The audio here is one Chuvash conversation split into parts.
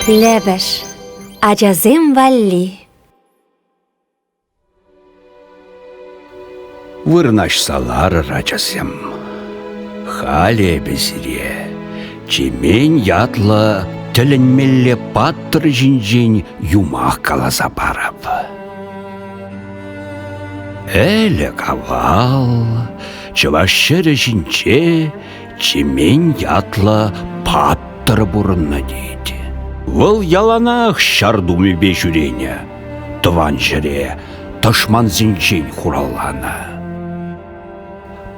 Лӗпӗш ачасем валли Вырнаҫса ларӑр, ачасем. Халӗ эпӗ сире Чемен ятлӑ тӗлӗнмелле паттӑр ҫинчен юмах каласа парап. Ӗлӗк авал чӑваш ҫӗрӗ ҫинче Чемен ятлӑ паттӑр пурӑннӑ тет. Вӑл яланах ҫар тумӗпе ҫӳренӗ, тӑван ҫӗре тӑшмансенчен хуралланӑ.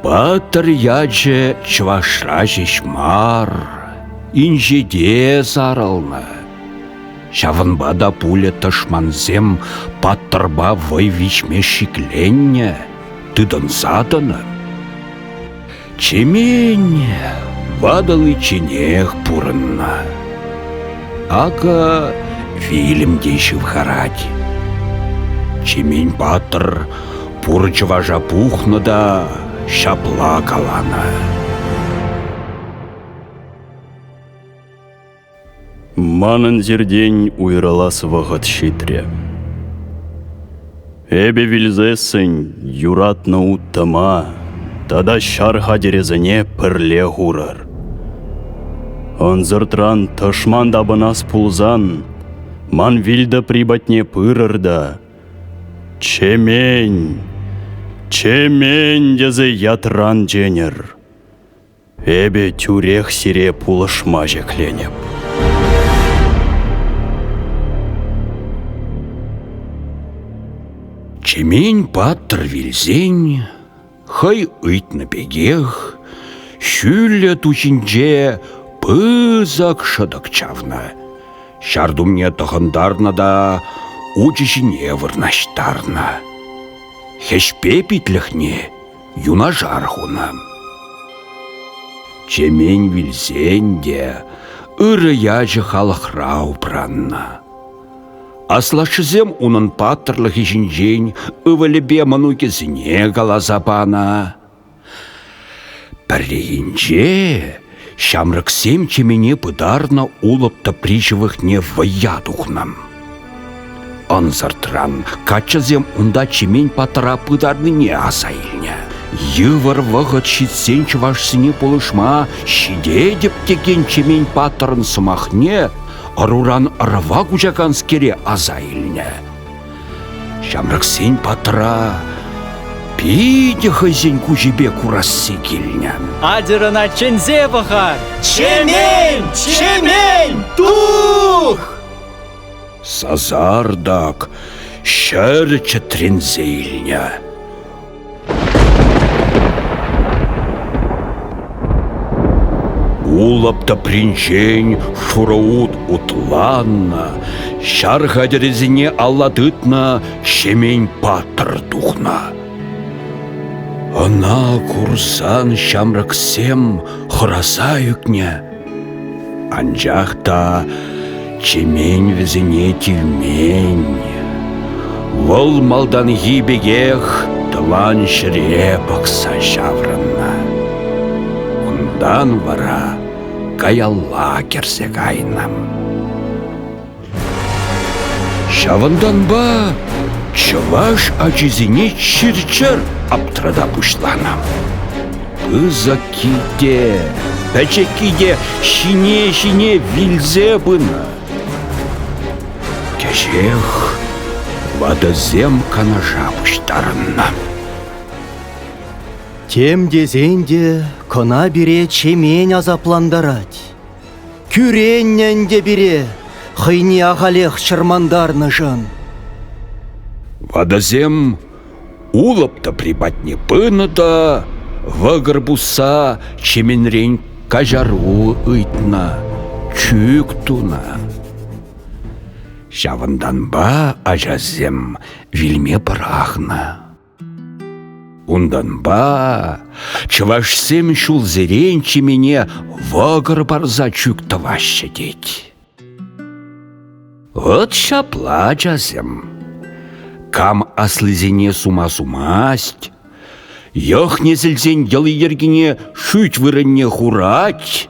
Паттӑр ячӗ чӑвашра ҫеҫ мар, инҫете сарӑлнӑ. Ҫавӑнпа та пулӗ тӑшмансем паттӑрпа вӑй виҫме шикленнӗ, тытӑнса тӑнӑ. Чеменне ватӑличченех пурӑннӑ. Акӑ фильм те ҫывхарать. Чемен патӑр пур чӑваша пухнӑ та ҫапла каланӑ. Манӑн сиртен уйрӑлас вӑхӑт ҫитрӗ. Эпӗ вилсессӗн юратнӑ уттӑма тата ҫар хатӗрӗсене пӗрле хурӑр. Ӑнсӑртран тӑшман тапӑнас пулсан, ман вилтӑпри патне пырӑр та «Чемен! Чемен!» тесе ятран ченӗр. Эпӗ тӳрех сире пулӑшма ҫӗкленӗп. Чемен паттӑр вилсен хӑй ыйтнӑ пекех ҫӳллӗ ту ҫинче пысӑк шӑтӑк чавнӑ. Ҫар тумне тӑхӑнтарнӑ та учӗ ҫине вырнаҫтарнӑ. Хӗҫпе питлӗхне юнашар хунӑ. Чемен вилсен те ырӑ ячӗ халӑхра упраннӑ. Аслашшӗсем унӑн паттӑрлӑхӗ ҫинчен ывӑлӗпе мӑнукӗсене каласа панӑ. Пӗррехинче Ҫамрӑксем чемене пытарнӑ улӑп тӑпри ҫывӑхне вӑййа тухнӑ. Ӑнсӑртран каччӑсем унта чемен патра пытарнине аса илнӗ. Йывӑр вӑхӑт ҫитсен чӑвашсене пулӑшма ҫитетӗп текен чемен паттӑрӑн сӑмахне ӑруран ӑрӑва куҫаканскере аса илнӗ. Ҫамрӑксен патра питӗ хӑйсен куҫӗпе курасси килнӗ. Атьӑрӑна чӗнсе пӑхар! Чемен! Чемен! Тух! Сасартӑк ҫӗр чӗтренсе илнӗ. Улӑп тӑпринчен шураут утланнӑ, ҫар хатӗрӗсене алла тытнӑ Ҫемен паттӑр тухнӑ. Ӑна курсан ҫамрӑксем хӑраса ӳкнӗ. Анчах та Чемен вӗсене тивмен. Вӑл малтанхи пекех тӑван ҫӗре пӑхса ҫаврӑннӑ. Унтан вара каялла кӗрсе кайнӑ. Ҫавӑнтанпа чӑваш ачисене чир-чӗр аптрата пуҫланӑ. Пысӑкки те, пӗчӗкки те ҫине-ҫине вилсе пынӑ. Кӗҫех ватӑсем канаша пуҫтарӑннӑ. Тем тесен те кӑна пире чемен асаплантарать. Кӳреннӗ ӗнтӗ пире хӑйне ахалех чӑрмантарнӑшӑн. Ватӑсем улӑп тӑпри патне пынӑ та вӑкӑр пусса чеменрен каҫару ыйтнӑ, чӳк тунӑ. Ҫавӑнтанпа ачасем вилме пӑрахнӑ. Унтанпа чӑвашсем ҫулсерен чемене вӑкӑр парса чӳк тӑваҫҫӗ тет. Вот ҫапла, ачасем, кам аслисене сума-сумасть, йӑх несӗлсен йӑли-йӗркине шӳт вырӑнне хурать,